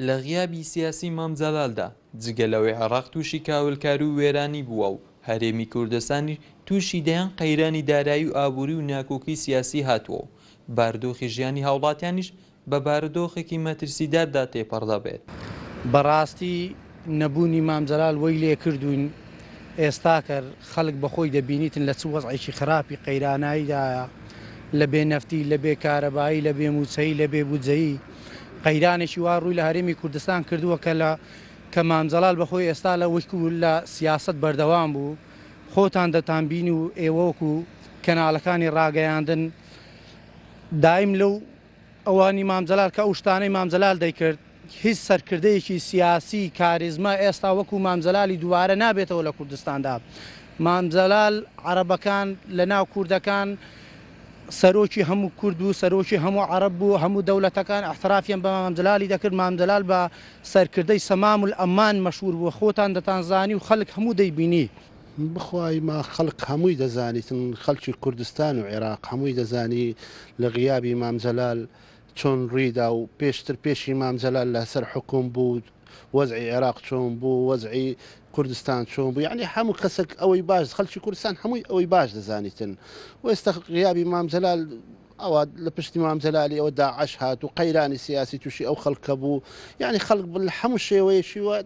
لە غیابی سیاسی مام جەلالدا، جگە لەوەی عێراق تووشی کاولکاری و وێرانی بووە و هەرێمی کوردستانیش تووشی دەیان قەیرانی دارایی و ئابووری و ناکۆکی سیاسی هاتووە و باردۆخی ژیانی هاوڵاتیانیش بە بارودۆخێکی مەترسیداردا تێپەڕ دەبێت. بەڕاستی نەبوونی مام جەلال وەی لێ کردووین ئێستا کەر خەلک بە خۆی دەبینیتن لە چ وەزعێکی خراپی قەیرانایی دایە لە بێ نەفتی لە بێ کارەبایی لە بێ مووچەی لە بێ بودجەیی قەیرانێکی وا ڕووی لە هەرێمی کوردستان کردووە کە لە کە مام جەلال بە خۆی ئێستا لە وشکو لە سیاسەت بەردەوام بوو خۆتان دەتانبینی و ئێوە وەکو کەنالەکانی ڕاگەیاندن دایم لەو ئەوانی مام جەلال کە ئەو شتانەی مام جەلال دەیکرد هیچ سەرکردەیەکی سیاسی کاریزما ئێستا وەکو مام جەلالی دوبارە نابێتەوە لە کوردستاندا مام جەلال عەرەبەکان لە ناو کوردەکان سەرۆکی هەموو کورد بوو سەرۆکی هەموو عەرەب بوو هەموو دەولەتەکان احترافیان بە مام جەلالی دەکرد مام جەلال بە سەرکردەی سەمام الاممان مەشهور بوو خۆتان دەتانزانی و خەلک هەموو دەیبینی بخوای ما خەڵک هەمووی دەزانیتن خەڵکی کوردستان و عێراق هەمووی دەزانی لە غیابی مام جەلال چۆن ڕویدا و پێشتر پێشی مام جەلال لەسەر حکوم بوو وەزعی عێراق چۆن بوو وەزعی کوردستان چۆن بوو یعنی هەموو کەسێک ئەوەی باش خەڵکی کوردستان هەمووی ئەوەی باش دەزانیتن وێستا غیابی مام جەلال ئەوە لە پشتی مام جەلالی ئەوە داعش هات و قەیرانی سیاسی تووشی ئەو خەڵکە بوو یعنی خەڵک بل هەموو شێوەیەکی وە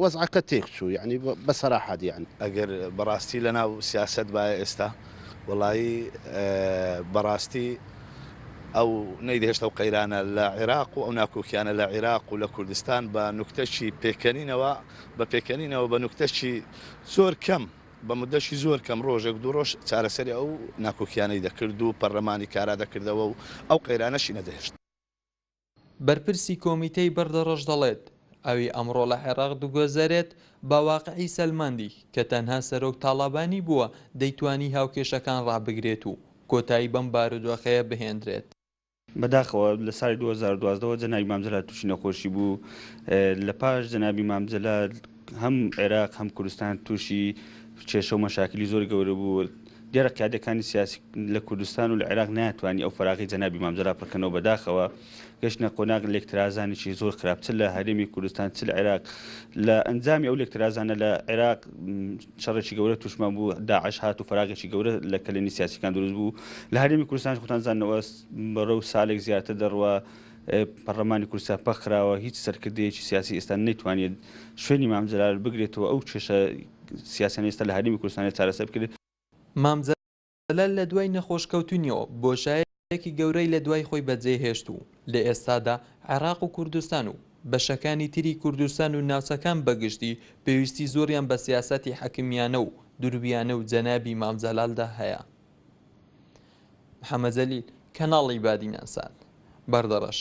وەزعەکە تێک چوو یعنی بە سەراحەت یان ئەگەر بەڕاستی لە ناو سیاسەت بایە ئێستا وەڵایی بەڕاستی ئەو نەیدەهێشت ئەو قەیرانە لە عێراق و ئەو ناکۆکیانە لە عێراق و لە کوردستان بە نوکتەچی پێکەنینەوە بە پێکەنینەوە بە نوکتەچی زۆر کەم بە موددەکی زۆر کەم ڕۆژێک دوو ڕۆژ چارەسەری ئەو ناکۆکییانەی دەکرد و پەڕلەمانی کارا دەکردەوە و ئەو قەیرانەشی نەدەهێشت. بەرپرسی کۆمیتەی بەردەڕەش دەڵێت، ئەوی ئەمڕۆ لە عێراق دگوزەرێت بە واقعی سەلماندی کە تەنها سەرۆک تاڵابانی بووە دەیتوانی هاوکێشەکان ڕابگرێت و کۆتایی بەم بارودۆخەیە بهێندرێت. بەداخەوە لە ساڵی دوو هەزار و دوازدە وە جەنابی مام جەلال تووشی نەخۆشی بوو لە پاش جەنابی مام جەلال هەم عێراق هەم کوردستان تووشی کێشە و مەشاکلی زۆر گەورە بوو دیارە قیادەکانی سیاسی لە کوردستان و لە عێراق ناتوانانی ئەو فراغی جەنابی مام جەلال پڕکەنەوە بەداخەوە گەشتە قۆناغ لێکترازانێکی زۆر خراپتر لە هەرێمی کوردستان چ لە عێراق لە ئەنجامی ئەو لێکترازانە لە عێراق شەڕێکی گەورە توشمان بوو داعش هات و فراغێکی گەورە لە کەلێنی سیاسیکان دروست بوو لە هەرێمی کوردستان خۆتان زانەوە بەڕە و سالێک زیاتر دەڕوە پەرلەمانی کورسا پەخراوە هیچ سەرکردەیەکی سیاسی ئێستا نەیتوانێت شوێنی مامجلال بگرێتەوە ئەو کێشە سیاسەن ئێستا لە هەرمی کوردستانی چارەسەر بکرێت مامجلال جەلال لە دوای نەخۆشکەوتنیەوە بۆشایەکی گەورەی لە دوای خۆی بەجێهێشت و لە ئێستادا عێراق و کوردستان و بەشەکانی تری کوردستان و ناوچەکان بەگشتی پێویستی زۆریان بە سیاسەتی حەکمیانە و درویانە و جەنابی مام جەلالدا هەیە. محمد جلیل، کەناڵی بادینان سات، بەردەڕەش.